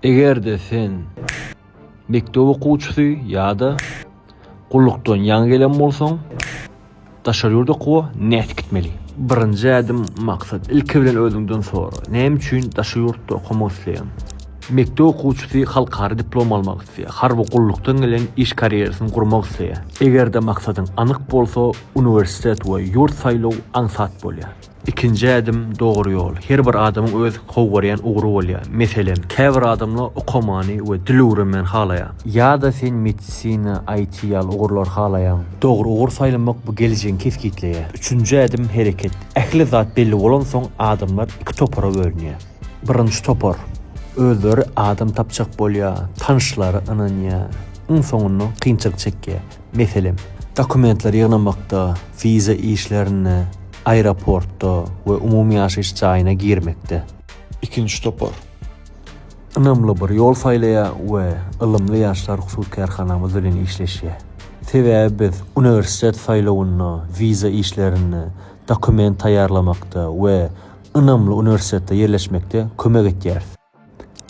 Eger-de sen mekdep okuwçysy ýa-da gullukdan ýaňy gelen bolsaň, daşary ýurda okuwa nädip gitmeli? Birinji ädim, maksat. Ilki bilen özüňden sora, näme üçin daşary ýurtda okamak isleýäň? Mekdep okuwçysy halkara diplom almak isleýär, harby gullukdan gelen iş karýerasyny gurmak isleýär. Eger-de maksadyň anyk bolsa, uniwersitet we ýurt saýlaw aňsat bolýar. Ikinji ädim, dogry ýol. Her bir adamyň öz gowy görýän ugry bolýar. Meselem, käbir adamlar okamany we dil öwrenmäni halaýar. Ýa-da sen medisina, IT ýaly ugurlary halaýaň. Dogry ugur saýlamak bu geljegiňi kesgitleýär. Üçünji ädim, hereket. Ähli zat belli bolansoň, adamlar iki topara bölünýär. Birinji topar, özleri adam tapjak bolýar, tanyşlary ynanýar, iň soňunda kynçylyk çekýär. Meselem, dokumentler ýygnamakda, wiza işlerinde, aeroportda we umumy ýaşaýyş jaýyna girmekde. Ikinji topar ynamly bir ýol saýlaýar we ylymly ýaşlar hususy kärhanamyz bilen işleşýär. Sebäbi biz uniwersitet saýlawynda, wiza işlerinde, dokument taýýarlamakda we ynamly uniwersitetde ýerleşmekde kömek edýäris.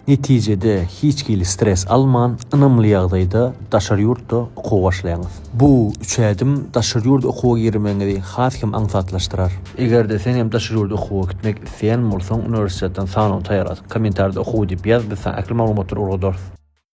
Netijede, hiç hili stres alman, ynamly ýagdaýda daşary ýurtda okuwa başlaýaňyz. Bu üç ädim daşary ýurda okuwa girmegiňizi has hem aňsatlaşdyrar. Eger-de sen hem daşary ýurda okuwa gitmek isleýän bolsaň, uniwersitetden sanaw taýýarladyk. Kommentarda okuw diýip ýaz, biz saňa ähli maglumatlary ugradarys.